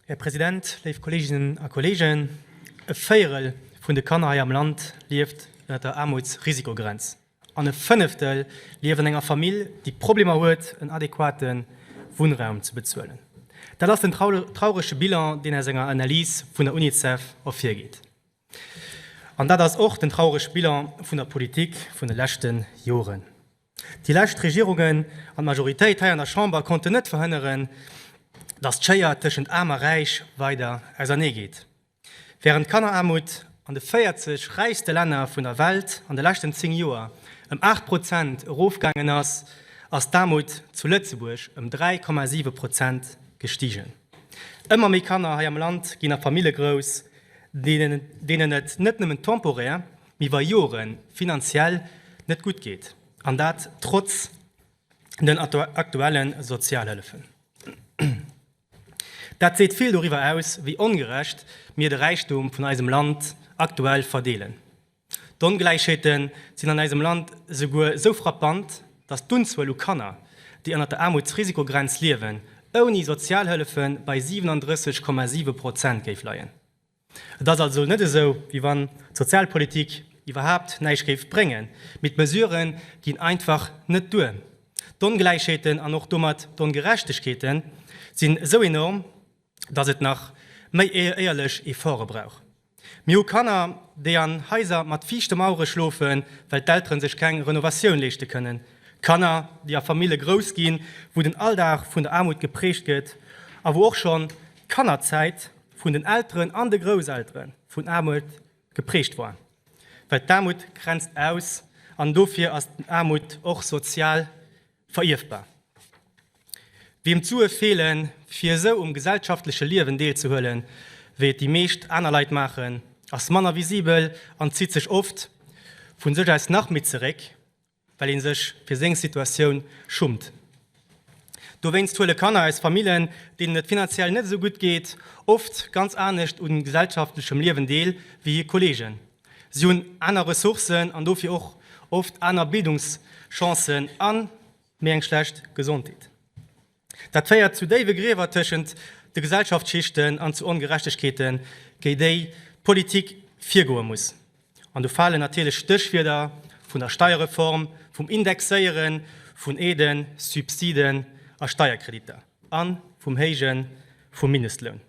Här President, léif Kolleeginnen a Kolleegen, e Véierel vun de Kanner hei am Land lieft ënnert der Aarmutsrisikogrenz an e Fënneftel lieft an enger Famill, déi Problemer huet, en adequate Wunnraum ze bezuelen. Dat ass den traurege Bilan, deen aus enger Analys vun der Unicef ervirgeet. An dat ass och den traurege Bilan vun der Politik vun de leschte Joren. Déi lescht Regierungen an d'Majoritéit hei an der Chamber konnten net verhënneren, datt d'Schéier tëschent Aarm a Räich weider ausernee geet. Wärend d'Kanneraarmut an de 40 räichste Länner vun der Welt an de leschten 10 Joer ëm 8 Prozent erofgaangen ass, ass d'Aarmut zu Lëtzebuerg ëm 3,7 Prozent gestigen. Ëmmer méi Kanner hei am Land ginn a Famille grouss, deenen et net nëmmen temporär, iwwer Jore finanziell net gutt geet, an dat trotz den aktuelle Sozialhëllefen. Dat seet vill doriwwer aus, wéi ongerecht mir de Räichtum vun eisem Land aktuell verdeelen. D'Ongläichheete sinn an eisem Land esouguer esou frappant, datt d'Unzuel u Kanner, déi ënnert der Aarmutsrisikogrenz liewen, ouni Sozialhëllefe bei 37,7 Prozent géif leien. Et ass also net esou, wéi wann d'Sozialpolitik iwwerhaapt näischt géif bréngen, mee d'Mesurë ginn einfach net duer. D'Ongläichheeten an och domat d'Ongerechtegkeete sinn esou enorm, datt et nach méi éierlech Efforte brauch. Mir hu Kanner, déi an Haiser mat fiichte Mauere schlofen, well d'Eltere sech keng Renovatioun leeschte kënnen, Kanner, déi a Famille grouss ginn, wou den Alldag vun der Aarmut geprägt gëtt a wou och schonn d'Kannerzäit vun den Elteren an de Grousselteren vun Aarmut geprägt war, well d'Aarmut grenzt aus an dofir ass d'Aarmut och sozial verierfbar. Wiem d'Sue feelen, fir esou um gesellschaftleche Liewen deelzehuelen, wéi et déi meescht aner Leit maachen, ass manner visibel an zitt sech oft vu sech aus nach méi zeréck, well een sech fir seng Situatioun schummt. Dowéinst huele Kanner aus Famillen, deenen et finanziell net esou gutt geet, oft ganz anescht u gesellschaftlechem Liewen deel wéi hir Kolleegen. Si hunn aner Ressourcen an dofir och oft aner Bildungschancen a méi eng schlecht Gesondheet. Dat féiert zu déiwe Griewer tëschent de Gesellschaftsschichten an zu Ongerechtegkeeten, géi déi d'Politik virgoe muss. An do falen natierlech Stéchwierder vun der Steierreform, vum Indexéiere vun Aiden, Subsiden a Steierkreditter a vum Héijen vum Mindestloun.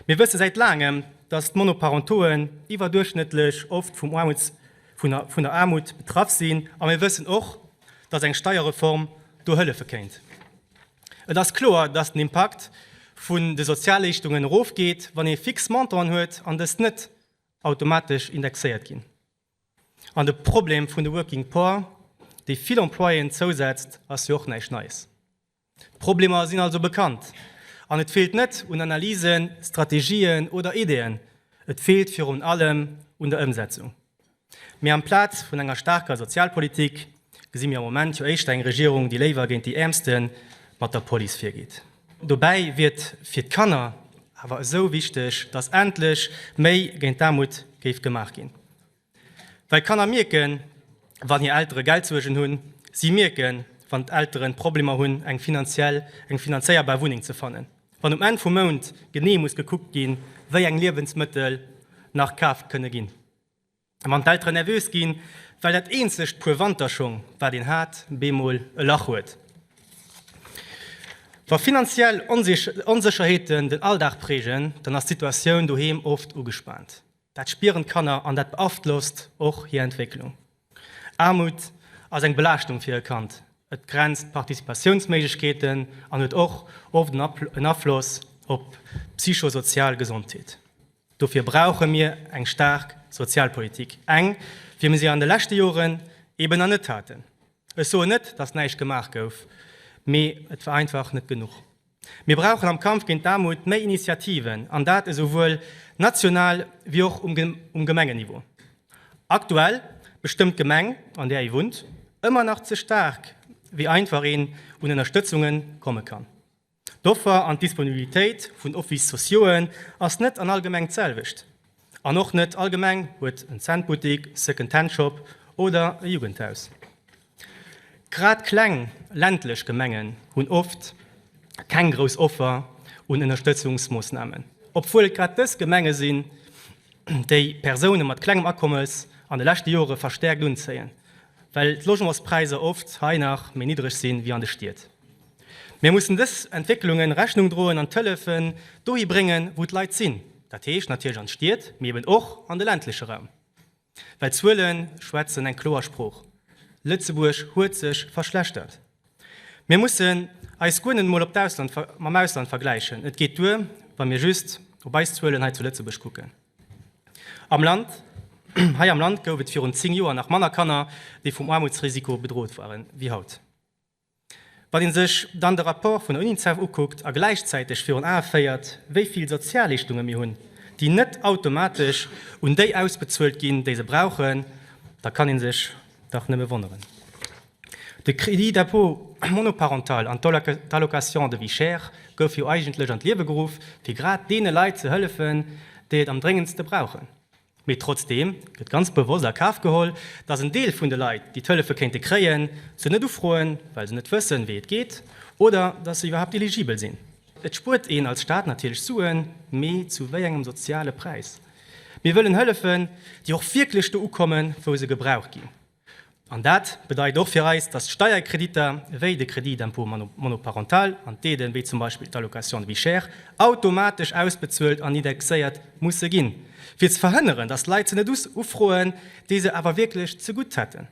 Mir wësse säit laangem, datt d'Monoparentoen iwwerduerchschnëttlech oft vum Aarmuts, vun der Aarmut betraff sinn. A mir wëssen och, datt eng Steierreform do hëllefe kéint. Et ass kloer, datt den Impakt vun de Sozialleeschtungen erofgeet, wann ee fix Montanten huet an dës net automatesch indexéiert ginn. An de Problem vun de Working Poor, déi vill Employéen zousetzt, ass jo och näischt Neies. D'Problemer sinn also bekannt an et feelt net un Analysen, Strategien oder Ideeën, et feelt virun allem un der Ëmsetzung. Mee amplaz vun enger staarker Sozialpolitik gesi mir am Moment jo éischter eng Regierung, déi léiwer géint déi Äermste mat der Police virgeet. Dobäi wier et fir d'Kanner awer esou wichteg, datt endlech méi géint d'Aarmut géif gemaach ginn. Well d'Kanner mierken, wann hir Eltere Geldsuergen hunn. Si mierken, wann d'Elteren Problemer hunn, eng finanziell, eng finanzéierbar Wunneng ze fannen. Wann um Enn vum Mount genee muss gekuckt ginn, wéi eng Liewensmëttel nach kaaft kënne ginn. Wann d'Elteren nervös ginn, well dat eenzegt Puer Wanterschong, wat een hat, bemol e Lach huet. Wa finanziell Onsécherheeten den Alldag prägen, dann ass d'Situatioun doheem oft ugespaant. Dat spieren d'Kanner an dat beaflosst och hir Entwécklung. Aarmut ass eng Belaaschtung fir e Kand, et begrenzt d'Participatiounsméiglechkeeten an huet och oft en Afloss op d'psychosozial Gesondheet. Dofir brauche mir eng staark Sozialpolitik, eng wéi mir se an de leschte Joren eben nach net haten. Ech soen net, datt näischt gemaach gouf, mee et war einfach net genuch. Mir brauchen am Kampf géint d'Aarmut méi Initiativen, an dat esouwuel national wéi och um Gemengeniveau. Aktuell bestëmmt d'Gemeng, an där ee wunnt, ëmmer nach ze staark, wéi einfach een un Ënnerstëtzunge komme kann. D'Offer an d'Disponibilitéit vun Office-sociauxen ass net an all Gemeng d'selwecht. An och net all Gemeng huet en Cent-Buttik, Second-Hand-Shop oder e Jugendhaus. Grad kleng ländlech Gemengen hunn oft keng grouss Offer un Ënnerstëtzungsmoossnamen, obwuel et grad dës Gemenge sinn, déi Persoune mat klengem Akommes an de leschte Jore verstäerkt unzéien, well d'Logementspräisser oft hei nach méi niddreg si wéi an de Stied. Mir mussen dës Entwécklungen Rechnung droen an d'Hëllefe dohi bréngen, wou d'Leit sinn, dat heescht natierlech an d'Stied, mee eben och an de ländleche Raum. Well d'Zuele schwätzen eng kloer Sprooch, Lëtzebuerg huet sech verschlechtert. Mir mussen eis guer net emol op d'Ausland, mam Ausland vergläichen, et geet duer, wa mir just op eis Zuelen hei zu Lëtzebuerg kucken. Am Land, hei am Land gouf et virun 10 Joer nach manner Kanner, déi vum Aarmutsrisiko bedroht waren, wéi haut. Wann ee sech dann de Rapport vun der UNICEF ukuckt a gläichzäiteg virun Ae féiert, wéi vill Sozialleeschtunge mir hunn, déi net automatesch un déi ausbezuelt ginn, déi se brauchen, da kann ee sech dach nëmme wonneren. De Crédit d'impôt monoparental an d'Allocation de vie chère goufe jo eigentlech an d'Liewe geruff, fir grad deene Leit ze hëllefen, déi et am dréngendste brauchen. Mee trotzdeem gëtt ganz bewosst a Kaf geholl, datt en Deel vun de Leit, déi d'Hëllefe kéinte kréien, se net ufroen, well se net wëssen, wéi et geet oder datt se iwwerhaapt eligibel sinn. Et spuert een als Staat natierlech Suen, mee zu wéi engem soziale Präis? Mir wëllen hëllefen, déi och wierklech do ukommen, wou se gebraucht ginn. An dat bedeit och fir eis, dass Steierkreditter wéi de Crédit d'impôt monoparental an d'Aiden, wéi zum Beispill d'Allocation de vie chère, automatesch ausbezuelt an indexéiert musse ginn, fir ze verhënneren, dass Leit se net ufroen, déi se awer wierklech zegutt hätten.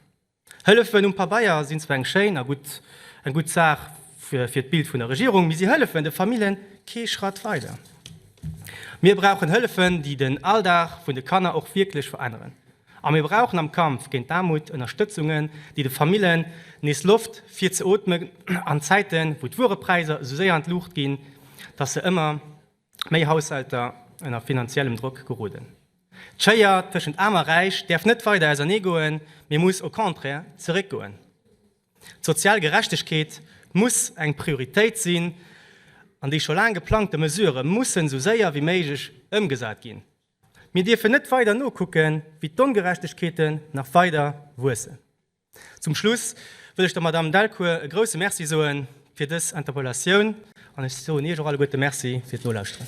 Hëllefen um Pabeier sinn zwar eng schéin a gutt Saach fir d'Bild vun der Regierung, mee si hëllefen de Familljen kee Schratt weider. Mir brauchen Hëllefen, déi den Alldag vun de Kanner och wierklech veränneren. A mir brauchen am Kampf géint d'Aarmut Ënnerstëtzungen, déi de Famillen nees Loft fir ze ootmen an Zäiten, wou d'Wuerepräiser esou séier an d'Luucht ginn, dass se ëmmer méi Haushälter ënner finanziellem Drock geroden. D'Schéier tëschent Aarm a Räich däerf net weider ausernee goen, mee muss au contraire zeréck goen. D'sozial Gerechtegkeet muss eng Prioritéit sinn an déi scho laang geplangte Mesurë mussen esou séier wéi méiglech ëmgesat ginn. Mir dierfen net weider nokucken, wéi d'Ongerechtegkeeten nach weider wuessen. Zum Schluss wëll ech der Madamm Delcourt e grouse Merci soen fir dës Interpellatioun an ech soen Iech och alleguerte Merci fir d'Nolauschteren.